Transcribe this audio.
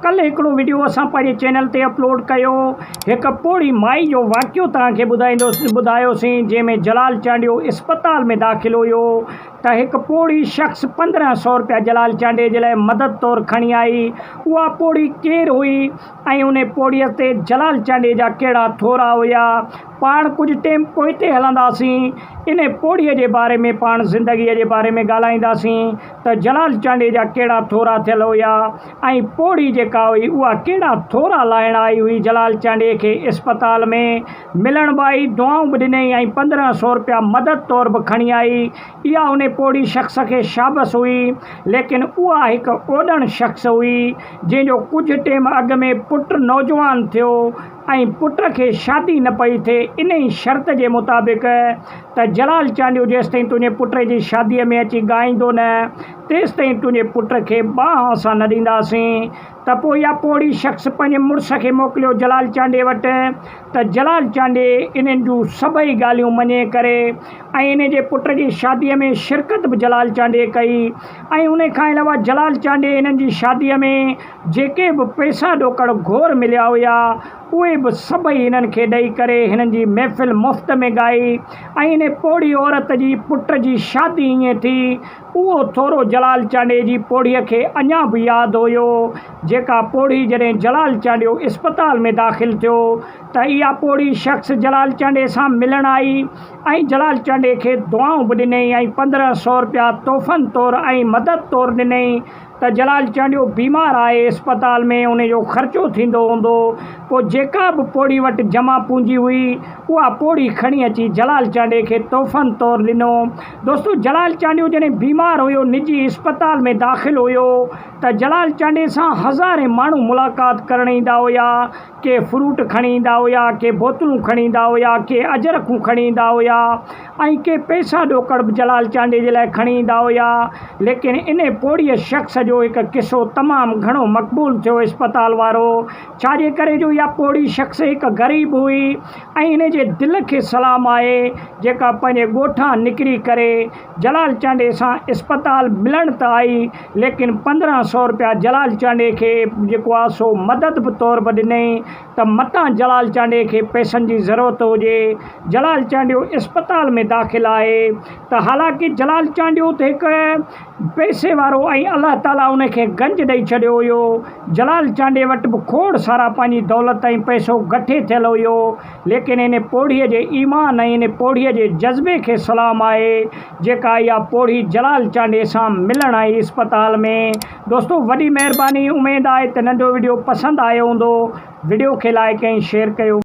ڪلهه هڪڙو وڊيو اسان پنهنجي چينل تي اپلوڊ ڪيو هڪ پوڙهي مائي جو واقعو توهان کي ٻڌائيندوسين ٻڌايوسين جنهن ۾ جلال چانڊيو اسپتال ۾ داخل هيو ته هڪ پوڙهي شخص پندرهن سئو روپيا جلال چانڊيي جي لاء مدد طور کڻي آئي اها پوڙهي ڪير هئي ۽ انهي پوڙهي تي جلال چانڊيي جا ڪهڙا ٿورا هيا پاڻ ڪجهه ٽيم پوئتي هلنداسين انهي پوڙهي جي باري ۾ پاڻ زندگي جي باري ۾ ڳالهائينداسين ته جلال چانڊيي جا ڪهڙا ٿورا ٿيل هيا. ۽ پوڙهي جيڪا هئي اها ڪهڙا ٿورا لاهڻ آئي هئي جلال چانڊيي کي اسپتال ۾ ملڻ به آئي دعائون به ڏنئي ۽ پندرهن سو رپيا مدد طور به کڻي آئي اها ان پوڙهي شخص کي شابس هئي ليڪن اها هڪ اوڏڻ شخص هئي جنهن جو ڪجهه ٽيم اڳ ۾ پٽ نوجوان ٿيو ۽ پٽ کي شادي نه پئي ٿئي انهي شرط جي مطابق ته جلال چانڊيو جيستائين تنهنجي پٽي جي شادي ۾ اچي ڳائيندو نه تيستائين تنهنجي پٽ کي باهه اسان نه ڏينداسين. ته پوء اها پوڙهي شخص پنهنجي مڙس کي موڪليو جلال چانڊيي وٽ ته جلال چانڊيي انهن جون سڀئي ڳالهيون مڃي ڪري ۽ انهن جي پٽ جي شاديء ۾ شرڪت به جلال چانڊيي ڪئي ۽ انهي کان علاوه جلال چانڊيي انهن جي شاديء ۾ جيڪي به پئسا ڏوڪڙ گهور مليا هيا اهي به سڀئي هنن کي ڏئي ڪري هنن جي محفل مفت ۾ ڳائي ۽ انهي پوڙهي عورت جي پٽ جي شادي ائين ٿي اهو ٿورو جلال چانڊيي جي پوڙهيء کي اڃا به ياد هيو، جيڪا پوڙهي جڏهن جلال چانڊيو اسپتال ۾ داخل ٿيو ته اها پوڙهي شخص جلال چانڊيي سان ملڻ آئي ۽ جلال چانڊيي کي دعائون به ڏنئي ۽ پندرهن سؤ رپيا تحفن طور ۽ مدد طور ڏنئي، ته جلال چانڊيو بيمار آهي، اسپتال ۾ ان جو خرچو ٿيندو هوندو، پوء جيڪا به پوڙهي وٽ جمع پونجي هئي، اها پوڙهي کڻي اچي جلال چانڊيي کي تحفن طور ڏنو. دوستو جلال چانڊيو جڏهن بيمار هيو، نجي اسپتال ۾ داخل هيو ته جلال چانڊيي سان هزارين ماڻهو ملاقات ڪرڻ ايندا هيا، ڪي فروٽ کڻي ايندا هيا، ڪي بوتلون کڻي ايندا هيا، ڪي اجرڪون کڻي ايندا هيا ۽ ڪي پئسا ڏوڪڙ به جلال چانڊيي جي لاء کڻي ايندا هيا. ليڪن ان پوڙهيء شخص جو هڪ قصو تمام گهڻو مقبول ٿيو اسپتال وارو ڇاجي ڪري جو اها پوڙهي شخص هڪ غريب هئي ۽ ان جي دل کي سلام آهي جيڪا پنهنجي ڳوٺان نڪري ڪري جلال چانڊئي سان اسپتال ملڻ ته آئي ليڪن پندرهن سئو روپيا جلال چانڊئي کي جيڪو آ سو مدد به طور به ڏنئين ته متان جلال چانڊئي کي پئسن جي ضرورت هجي. جلال چانڊيو اسپتال ۾ داخل آهي ته حالانڪه جلال چانڊيو ته هڪ پئسي وارو ۽ الله تعاليٰ ان کي گنج ڏئي ڇڏيو هيو. جلال چانڊئي وٽ به کوڙ سارا پنهنجي دولت ۽ پئسو گٺي ٿيل هيو. ليڪن ان پوڙهي جي ايمان ۽ ان پوڙهي جي جذبي کي سلام آهي جيڪا اها پوڙهي جلال چانڊيي سان ملڻ آئي اسپتال ۾. دوستو وڏي مهرباني اميد آهي ته ننڍو وڊيو پسند آيو هوندو وڊيو کي لائيڪ ۽ شيئر ڪيو.